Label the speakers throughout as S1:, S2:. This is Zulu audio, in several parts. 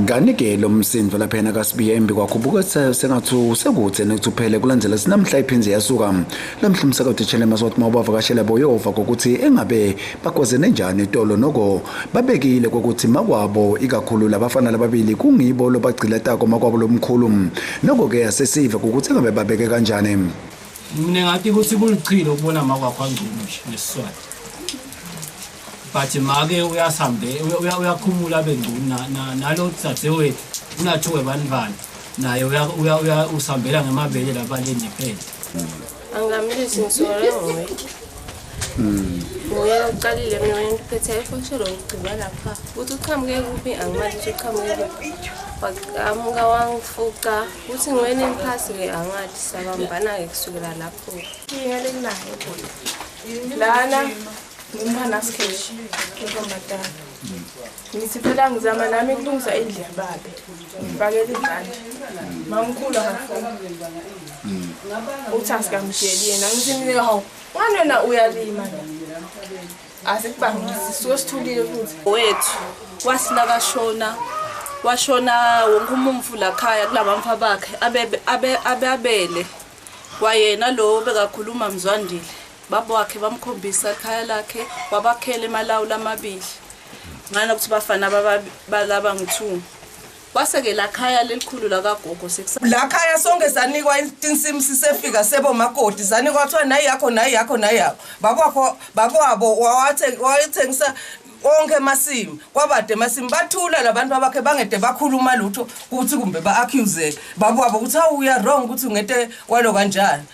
S1: Kanike lo msindo lapha yena kaSibiya embi kwakho buke sengathi usekude nekuthi uphele kulandela sinamhla iphinzi yasuka lamhla umsakathi Chelema sothi mawubavakashela boyova kokuthi engabe bakwazene njani itolo noko babekile kokuthi makwabo ikakhulu labafana lababili kungibo lobagcila tako makwabo lomkhulu noko ke asesive ukuthi engabe babeke kanjani mina ngathi
S2: ukuthi kulichilo ukubona makwakho angcono nje nesiswati but make uyasambe uyakhumula abe ngcuni nalo dzadzewethu unathiwe banibani naye usambela ngemabele labaleni phela angamlisi
S3: ngisole ngoye hmm. nguye uqalile mina wena ngiphethe efoshelo ngigcina lapha ukuthi uqhamuke kuphi angimazi ukuthi uqhamuke kuphi waqhamuka wangifuqa ukuthi ngiwena emphasi-ke angathi sabambana-ke kusukela lapho lana Ngimana sketch intombazana. Ngithi phela ngizama nami kulungisa indlu yababe. Ngifakele izandla. Mamkhulu akafuna. Uthi asikamsheli yena ngithi mina hawu ngani wena uyalima la. Asikubangisi suke sithulile futhi. wethu
S4: wasila kashona washona wonke umumfu lakhaya kulabamfa bakhe abe- abe- ababele kwayena lo bekakhuluma mzwandile baba wakhe bamkhombisa ikhaya lakhe wabakhela emalawula amabili ngana ukuthi bafana balaba ngu-two kwase-ke la khaya lelikhulu lakagogo la khaya sonke
S5: sanikwa insimu sisefika sebo makoti zanikwa kuthiwa nayi yakho nayi yakho nayi yakho babakho bababo wayethengisa onke emasimu kwabade emasimu bathula labantu abakhe bangede bakhuluma lutho ukuthi kumbe ba-accuse bababo ukuthi hawu uya wrong ukuthi ungete kwalo kanjani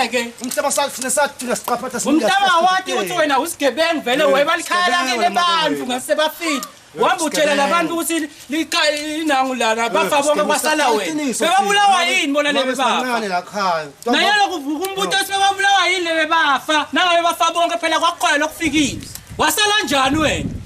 S2: ngeke
S6: umhlaba safuna sathina siqaphatha umhlaba wathi ukuthi
S2: wena usigebengu vele webalikhala kele bantu ngasebafile wamba utshela labantu ukuthi linangu lana bafa bonke kwasala wena bebabulawa yini bona lebe bafa naye lokuvuka umbutho sebebabulawa yini lebe bafa nangabe bafa bonke phela kwakukhona lokufikile wasala njani wena